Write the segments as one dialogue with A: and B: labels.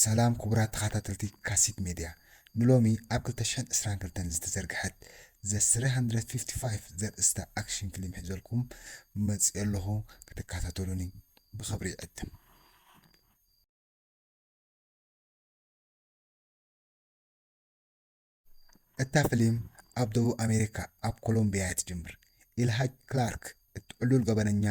A: ሰላም ክቡራት ተኻታተልቲ ካሲት ሜድያ ንሎሚ ኣብ ክልተ ሽሕን ዕስራን ክልተን ዝተዘርግሐት The three hundred fifty five ዘርእስታ ኣክሽን ፍሊም ሒዘልኩም መጺኤ ኣለኹ ክትካታተሉኒ ብኽብሪ ይዕድም። እታ ፍሊም ኣብ ደቡብ ኣሜሪካ ኣብ ኮሎምብያ እያ ትጅምር። ኢልሃጅ ክላርክ እቲ ዕሉል ገበነኛ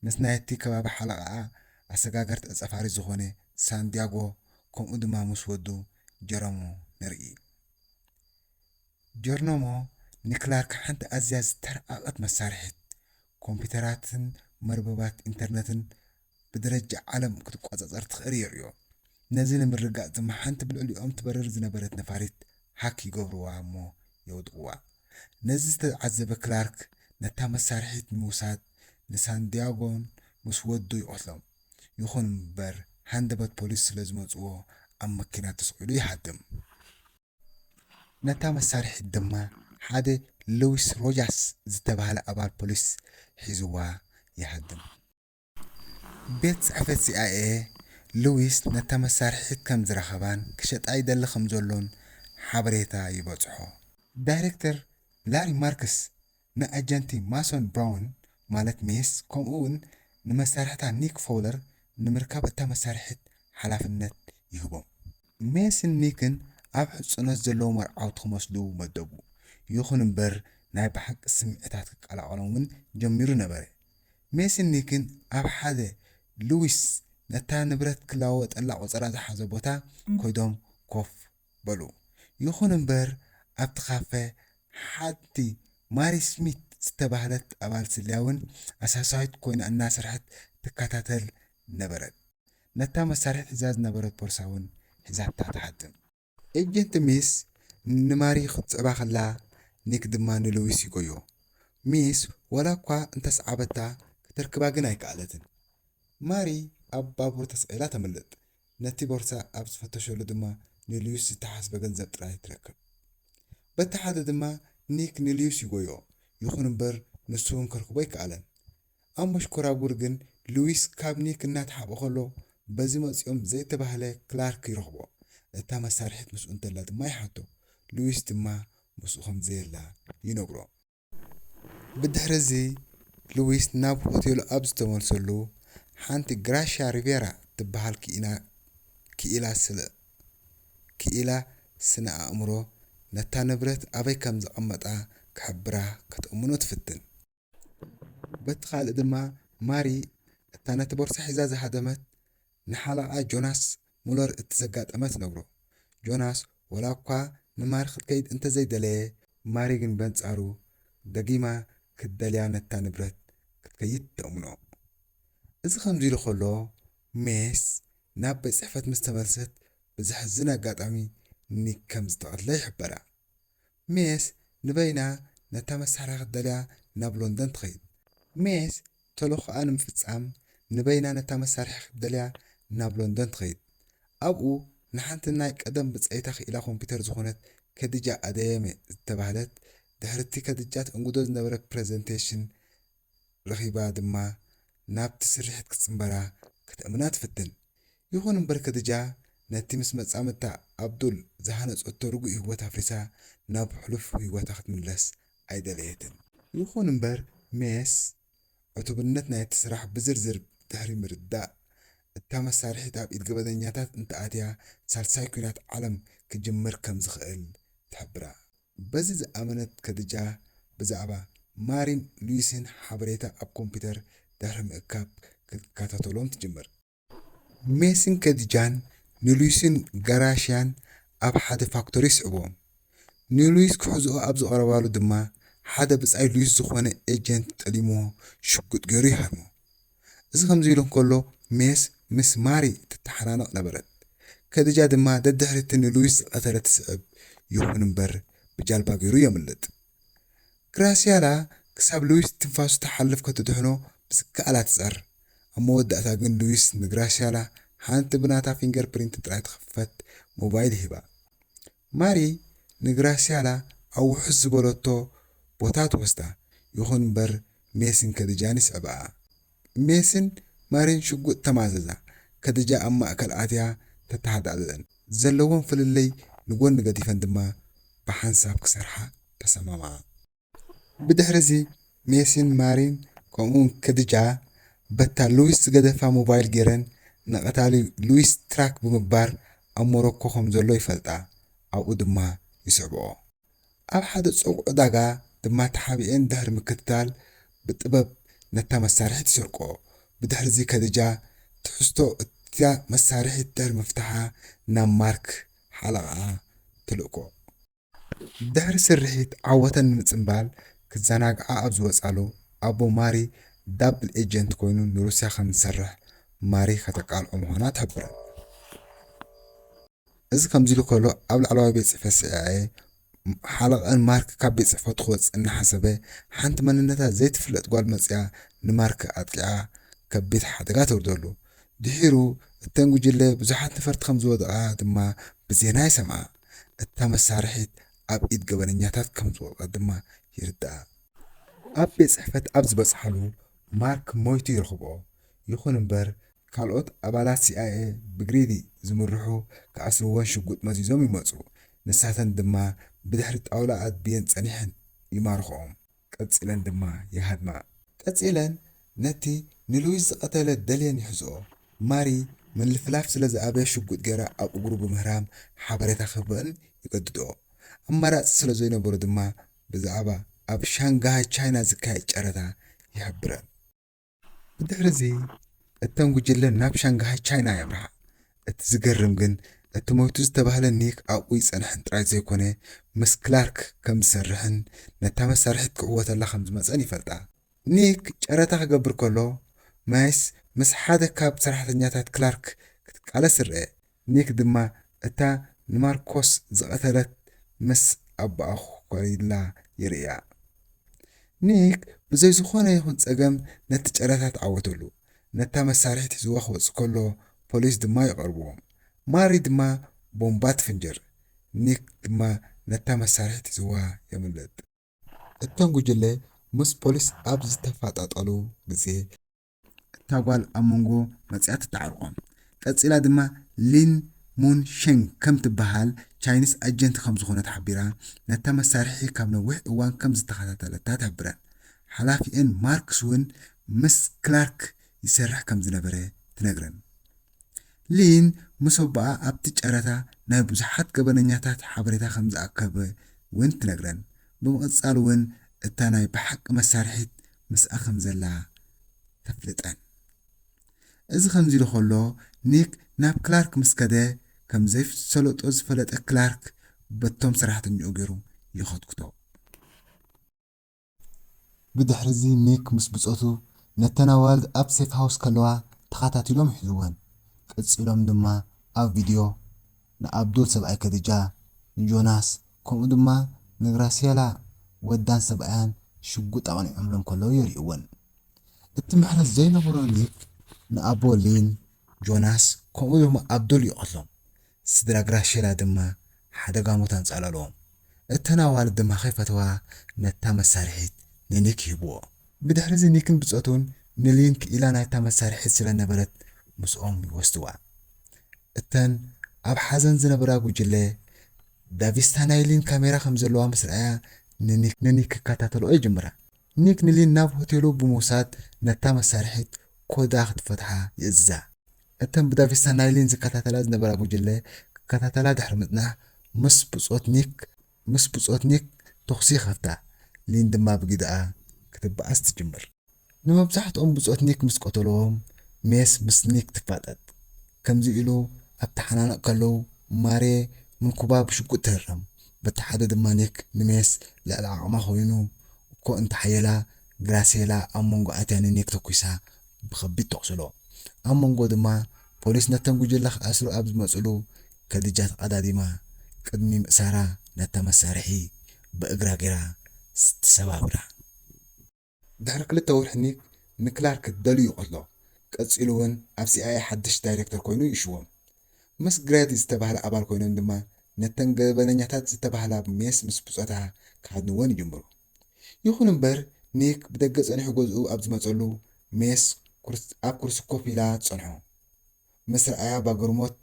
A: ምስ ናይቲ ከባቢ ሓለቓኣ ኣሰጋገርቲ ዕጸፋሪ ዝኾነ ሳንድያጎ ከምኡ ድማ ምስ ወዱ ጀሮሞ ንርኢ። ጀርኖሞ ንክላርክ ሓንቲ ኣዝያ ዝተራቐቐት መሳርሒት ኮምፒተራትን መርበባት ኢንተርነትን ብደረጃ ዓለም ክትቆጻጸር ትኽእር የርእዮ። ነዚ ንምርግጋጽ ድማ ሓንቲ ብልዕሊኦም ትበርር ዝነበረት ነፋሪት ሃክ ይገብርዋ እሞ የውድቕዋ። ነዚ ዝተዓዘበ ክላርክ ነታ መሳርሒት ንምውሳድ ንሳንድያጎን ምስ ወዱ ይቐትሎም። ይኹን እምበር ሃንደበት ፖሊስ ስለ ዝመጽዎ ኣብ መኪና ተሰቒሉ ይሃድም። ነታ መሳርሒት ድማ ሓደ ሉዊስ ሮጃስ ዝተባህለ ኣባል ፖሊስ ሒዙዋ ይሃድም። ቤት ጽሕፈት ሲኣይኤ፣ ሉዊስ ነታ መሳርሒት ከም ዝረኸባን ክሸጣ ይደሊ ከም ዘሎን ሓበሬታ ይበጽሖ። ዳይረክተር ላሪ ማርክስ ንኣጀንቲ ማሶን ብራውን ማለት ሜስ ከምኡ'ውን ንመሳርሕታ ኒክ ፎውለር ንምርካብ እታ መሳርሒት ሓላፍነት ይህቦም። ሜስን ሚክን ኣብ ሕጹኖት ዘለዉ መርዓውቲ ክመስሉ መደቡ። ይኹን እምበር ናይ ብሓቂ ስምዒታት ክቀላቐሎም እውን ጀሚሩ ነበረ። ሜስን ሚክን ኣብ ሓደ ልዊስ ነታ ንብረት ክለዋወጠላ ቆጸራ ዝሓዘ ቦታ ከይዶም ኮፍ በሉ። ይኹን እምበር ኣብቲ ካፈ ሓንቲ ማሪ ስሚት ዝተባህለት ኣባል ስለያ እውን ኣሳሳዪት ኮይና እናሰርሐት ትከታተል ነበረት። ነታ መሳርሒ ሒዛ ዝነበረት ቦርሳ እውን ሒዛታ ትሓድም። ኤጀንት ሚስ ንማሪ ክትስዕባ ከላ ኒክ ድማ ንሉዊስ ይጎዮ። ሚስ ዋላ እኳ እንተ ሰዓበታ ከተርክባ ግን ኣይከኣለትን። ማሪ ኣብ ባቡር ተሰቒላ ተምልጥ፣ ነቲ ቦርሳ ኣብ ዝፈተሸሉ ድማ ንሉዊስ ዝተሓስበ ገንዘብ ጥራይ ትረክብ። በቲ ሓደ ድማ ኒክ ንሉዊስ ይጎዮ፣ ይኹን እምበር ንሱ እውን ከርክቦ ኣይከኣለን። ኣብ መሽኮራጉር ግን ሉዊስ ካብ ኒክ እናተሓብኦ ከሎ በዚ መጺኦም ዘይተባህለ ክላርክ ይረኽቦ። እታ መሳርሒት ምስኡ እንተላ ድማ ይሓቶ። ሉዊስ ድማ ምስኡ ከም ዘየላ ይነግሮ። ብድሕሪ'ዚ ሉዊስ ናብ ሆቴሉ ኣብ ዝተመልሰሉ፣ ሓንቲ ግራሽያ ሪቬራ እትበሃል ክኢላ ክኢላ ስለ ክኢላ ስነ-ኣእምሮ ነታ ንብረት ኣበይ ከም ዘቐመጣ ክሕብራ ክትእምኖ ትፍትን። በቲ ኻልእ ድማ ማሪ እታ ነቲ ቦርሳ ሒዛ ዝሃደመት ንሓለቓ ጆናስ ሙለር እቲ ዘጋጠመ ትነግሮ። ጆናስ ዋላ እኳ ንማሪ ክትከይድ እንተ ዘይደለየ፣ ማሪ ግን በንጻሩ ደጊማ ክትደልያ ነታ ንብረት ክትከይድ ተእምኖ። እዚ ከምዚ ኢሉ ኸሎ ሜስ ናብ ቤት ጽሕፈት ምስ ተመልሰት ብዘሕዝን ኣጋጣሚ ኒክ ከም ዝተቐትለ ይሕበራ። ሜስ ንበይና ነታ መሳርያ ክትደልያ ናብ ሎንደን ትኸይድ። ሜስ ተልእኾኣ ንምፍጻም ንበይና ነታ መሳርሒ ክትደልያ ናብ ሎንደን ትኸይድ። ኣብኡ ንሓንቲ ናይ ቀደም ብጸይታ ክኢላ ኮምፒተር ዝኾነት ከዲጃ ኣደየሜ ዝተባህለት ድሕሪ'ቲ ከዲጃ ተእንግዶ ዝነበረ ፕረዘንተሽን ረኺባ ድማ ናብቲ ስርሒት ክትጽንበራ ከተእምና ትፍትን። ይኹን እምበር ከድጃ ነቲ ምስ መጻምድታ ኣብዱል ዝሃነጸቶ ርጉእ ህይወት ኣፍሪሳ ናብ ሕሉፍ ህይወታ ክትምለስ ኣይደለየትን። ይኹን እምበር ሜስ ዕቱብነት ናይቲ ስራሕ ብዝርዝር ድሕሪ ምርዳእ፣ እታ መሳርሒት ኣብ ኢድ ገበነኛታት እንተኣትያ ሳልሳይ ኲናት ዓለም ክጅምር ከም ዝኽእል ትሕብራ። በዚ ዝኣመነት ከድጃ፣ ብዛዕባ ማሪን ሉዊስን ሓበሬታ ኣብ ኮምፒተር ድሕሪ ምእካብ ክትከታተሎም ትጅምር። ሜስን ከድጃን ንሉዊስን ጋራሽያን ኣብ ሓደ ፋክቶሪ ይስዕብዎም። ንሉዊስ ክሕዝኦ ኣብ ዝቐረባሉ ድማ ሓደ ብጻይ ሉዊስ ዝዀነ ኤጀንት ጠሊምዎ ሽጉጥ ገይሩ ይሃርሞ። እዚ ከምዚ ኢሉ እንከሎ፣ ሜስ ምስ ማሪ ትተሓናነቕ ነበረት። ከድጃ ድማ ደድሕሪ'ቲ ንሉዊስ ዝቐተለ ትስዕብ፣ ይኹን እምበር ብጃልባ ገይሩ የምልጥ። ግራስያላ ክሳብ ሉዊስ ትንፋሱ ትሓልፍ ከትድሕኖ ብዝከኣላ ትጸር። ኣብ መወዳእታ ግን ሉዊስ ንግራስያላ ሓንቲ ብናታ ፊንገር ፕሪንት ጥራይ ትኽፈት ሞባይል ሂባ። ማሪ ንግራስያላ ኣብ ውሑስ ዝበለቶ ቦታ ትወስዳ፣ ይኹን እምበር ሜስን ከድጃን ይስዕብኣ። ሜስን ማሪን ሽጉጥ ተማዘዛ፣ ከድጃ ኣብ ማእከል ኣትያ ተተሃዳድእን፣ ዘለወን ፍልልይ ንጎኒ ገዲፈን ድማ ብሓንሳብ ክሰርሓ ተሰማምዓ። ብድሕሪ'ዚ ሜሲን ማሪን ከምኡ'ውን ከድጃ በታ ሉዊስ ዝገደፋ ሞባይል ገይረን ንቐታሊ ሉዊስ ትራክ ብምግባር ኣብ ሞሮኮ ከም ዘሎ ይፈልጣ ኣብኡ ድማ ይስዕብኦ። ኣብ ሓደ ጽቡቕ ዕዳጋ ድማ ተሓቢኤን ድሕሪ ምክትታል ብጥበብ ነታ መሳርሒት ይሰርቅኦ። ብድሕሪ'ዚ ከድጃ ትሕዝቶ እታ መሳርሒት ድሕሪ ምፍታሓ ናብ ማርክ ሓለቓኣ ትልእኮ። ድሕሪ ስርሒት ዓወተን ንምጽንባል ክዘናግዓ ኣብ ዝወጻሉ፣ ኣቦ ማሪ ዳብል ኤጀንት ኮይኑ ንሩስያ ከም ዝሰርሕ ማሪ ከተቃልዖ ምዃና ትሕብረን። እዚ ከምዚሉ ከሎ ኣብ ላዕለዋይ ቤት ጽሕፈት ሲኣይኤ ሓለቐኣን ማርክ ካብ ቤት ጽሕፈቱ ክወጽእ እናሓሰበ ሓንቲ መንነታ ዘይትፍለጥ ጓል መጺኣ ንማርክ ኣጥቂዓ ከቢድ ሓደጋ ተውርደሉ። ድሒሩ እተን ጉጅለ ብዙሓት ነፈርቲ ከም ዝወደቓ ድማ ብዜና ይሰምዓ። እታ መሳርሒት ኣብ ኢድ ገበነኛታት ከም ዝወድቐት ድማ ይርዳእ። ኣብ ቤት ጽሕፈት ኣብ ዝበጽሓሉ ማርክ ሞይቱ ይረኽቦ። ይኹን እምበር ካልኦት ኣባላት ሲኣይኤ ብግሪዲ ዝምርሑ ክኣስርወን ሽጉጥ መዚዞም ይመጹ፣ ንሳተን ድማ ብድሕሪ ጣውላ ኣድብየን ጸኒሐን ይማርኽኦም። ቀጺለን ድማ ይሃድማ። ቀጺለን ነቲ ንሉዊስ ዝቐተለ ደልየን ይሕዝኦ። ማሪ ምልፍላፍ ስለ ዝኣበየ ሽጉጥ ገይራ ኣብ እግሩ ብምህራም ሓበሬታ ክህበን ይገድድኦ። ኣማራጺ ስለ ዘይነበሮ ድማ ብዛዕባ ኣብ ሻንግሃይ ቻይና ዝካየድ ጨረታ ይሕብረን። ብድሕርዚ እተን ጉጅለ ናብ ሻንግሃይ ቻይና የምርሓ። እቲ ዝገርም ግን እቲ ሞይቱ ዝተባህለ ኒክ ኣብኡ ይጸንሕን ጥራይ ዘይኮነ ምስ ክላርክ ከም ዝሰርሕን ነታ መሳርሒት ክዕወተላ ከም ዝመጸን ይፈልጣ። ኒክ ጨረታ ክገብር ከሎ ማይስ ምስ ሓደ ካብ ሰራሕተኛታት ክላርክ ክትቃለስ ይርኣ። ኒክ ድማ እታ ንማርኮስ ዝቐተለት ምስ ኣቦኣ ኮሪላ ይርእያ። ኒክ ብዘይ ዝኾነ ይኹን ጸገም ነቲ ጨረታ ተዓወተሉ፣ ነታ መሳርሒት ሒዝዋ ክወጽእ ከሎ ፖሊስ ድማ ይቐርብዎም። ማሪ ድማ ቦምባ ትፍንጅር፣ ኒክ ድማ ነታ መሳርሒት ሒዝዋ የምልጥ። እቶም ጉጅለ ምስ ፖሊስ ኣብ ዝተፋጣጠሉ ግዜ፣ እታ ጓል ኣብ መንጎ መጺኣ ትተዓርቆ። ቀጺላ ድማ ሊን ሙን ሸንግ ከም ትበሃል ቻይኒስ ኣጀንቲ ከም ዝኾነት ሓቢራ፣ ነታ መሳርሒ ካብ ነዊሕ እዋን ከም ዝተኸታተለታ ትሕብረን። ሓላፊኤን ማርክስ እውን ምስ ክላርክ ይሰርሕ ከም ዝነበረ ትነግረን። ሊን ምስ ኣቦኣ ኣብቲ ጨረታ ናይ ብዙሓት ገበነኛታት ሓበሬታ ከም ዝኣከበ እውን ትነግረን። ብምቕጻል እውን እታ ናይ ብሓቂ መሳርሒት ምስኣ ከም ዘላ ተፍልጠን። እዚ ከምዚሉ ከሎ ኒክ ናብ ክላርክ ምስ ከደ ከም ዘይሰለጦ ዝፈለጠ ክላርክ በቶም ሰራሕተኛኡ ገይሩ ይኸትኩቶ። ብድሕሪዚ ኒክ ምስ ብጾቱ ነተን ኣዋልድ ኣብ ሴፍ ሃውስ ከለዋ ተኸታቲሎም ሒዝወን። ቀጺሎም ድማ ኣብ ቪድዮ ንኣብዱል ሰብኣይ ከድጃ፣ ንጆናስ፣ ከምኡ ድማ ንግራሲየላ ወዳን ሰብኣያን ሽጉጥ ኣቕኒዖምለን ከለዉ የርእይወን። እቲ ምሕረት ዘይነበሮ ኒክ ንኣቦ ሊን፣ ጆናስ፣ ከምኡ ድማ ኣብዱል ይቐትሎም። ስድራ ግራሺየላ ድማ ሓደጋ ሞት ኣንጻላልዎም። እተን ኣዋልድ ድማ ከይፈተዋ ነታ መሳርሒት ንኒክ ይህብዎ። ብድሕሪዚ ኒክን ብጾቱን ንሊን ክኢላ ናይታ መሳርሒት ስለ ነበረት ምስኦም ይወስድዋ። እተን ኣብ ሓዘን ዝነበራ ጉጅለ፣ ዳቪስታ ናይ ሊን ካሜራ ከም ዘለዋ ምስ ረኣያ፣ ንኒክ ክከታተልኦ ይጅምራ። ኒክ ንሊን ናብ ሆቴሉ ብምውሳድ ነታ መሳርሒት ኮዳ ክትፈትሓ ይእዝዛ። እተን ብዳቪስታ ናይ ሊን ዝከታተላ ዝነበራ ጉጅለ ክከታተላ ድሕሪ ምጽናሕ፣ ምስ ብጾት ኒክ ምስ ብጾት ኒክ ተዅሲ ይኸፍታ፣ ሊን ድማ ብግደኣ ክትበኣስ ትጅምር። ንመብዛሕትኦም ብጾት ኒክ ምስ ቀተልዎም፣ ሜስ ምስ ኒክ ትፋጠጥ። ከምዚ ኢሉ ኣብ ተሓናነቕ ከለዉ፣ ማርየ ንኩባ ብሽጉጥ ትህረም። በቲ ሓደ ድማ ኒክ ንሜስ ልዕሊ ዓቕማ ኰይኑ እኮ እንተ ሓየላ፣ ግራሴላ ኣብ መንጎ ኣትያ ንኒክ ተኲሳ ብኸቢድ ተቑስሎ። ኣብ መንጎ ድማ ፖሊስ ነቶም ጉጅለ ክኣስሩ ኣብ ዝመጽሉ ከድጃ ተቐዳዲማ ቅድሚ ምእሳራ ነታ መሳርሒ ብእግራ ገይራ ተሰባብራ። ድሕሪ ክልተ ወርሒ ኒክ ንክላርክ ደልዩ ከሎ፣ ቀጺሉ ውን ኣብ ሲኣይኤ ሓድሽ ዳይረክተር ኮይኑ ይሽወም። ምስ ግሬዲ ዝተባህለ ኣባል ኮይኖም ድማ ነተን ገበነኛታት ዝተባህላ ሜስ ምስ ብጾታ ክሃድንወን ይጅምሩ። ይኹን እምበር ኒክ ብደገ ጸኒሑ ገዝኡ ኣብ ዝመጸሉ ሜስ ኣብ ኩርሲ ኮፍ ኢላ ትጸንሖ። ምስ ረኣያ ባግርሞት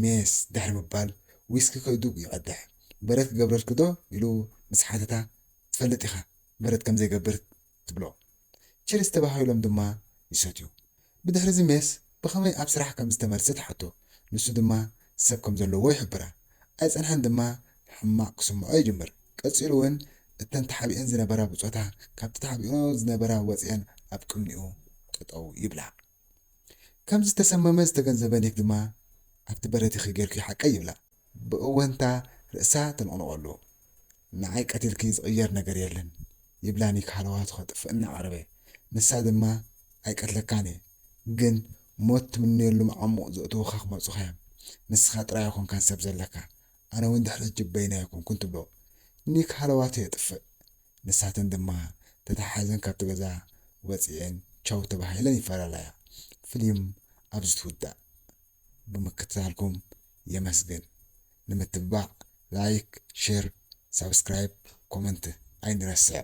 A: ሜስ ድሕሪ ምባል ዊስኪ ከእዱግ ይቐድሕ። በረድ ክገብረልኪ ዶ? ኢሉ ምስ ሓተታ ትፈልጥ ኢኻ በረድ ከም ዘይገብር ትብሎ። ቺርስ ተባሃሂሎም ድማ ይሰትዩ። ብድሕሪ'ዚ ሜስ ብኸመይ ኣብ ስራሕ ከም ዝተመልሰ ትሓቶ፣ ንሱ ድማ ሰብ ከም ዘለዎ ይሕብራ። ኣይጸንሐን ድማ ሕማቕ ክስምዖ ይጅምር። ቀጺሉ ውን እተን ተሓቢኤን ዝነበራ ብጾታ ካብቲ ተሓቢኤኦ ዝነበራ ወጺኤን ኣብ ቅድሚኡ ጠጠው ይብላ። ከም ዝተሰመመ ዝተገንዘበ ኒክ ድማ ኣብቲ በረድ ይኺ ጌርኪ ሓቀይ ይብላ። ብእወንታ ርእሳ ተነቕንቐሉ። ንዓይ ቀቲልኪ ዝቕየር ነገር የለን ይብላ ኒክ ሃለዋቱ ከጥፍእ እናቐረበ። ንሳ ድማ ኣይቀትለካን እየ ግን ሞት ትምነየሉ መዓሙቕ ዘእተዉኻ ክመርጹኻ እዮም። ንስኻ ጥራይ ኣይኮንካን ሰብ ዘለካ ኣነ ውን ድሕሪ ሕጂ በይነይ ኣይኮንኩን ትብሎ። ኒክ ሃለዋቱ የጥፍእ። ንሳተን ድማ ተተሓሒዘን ካብቲ ገዛ ወጺኤን ቻው ተባሂለን ይፈላለያ። ፍሊም ኣብዚ ትውዳእ። ብምክትታልኩም የመስግን ንምትብባዕ ላይክ ሼር ሳብስክራይብ ኮመንት ኣይንረስዕ።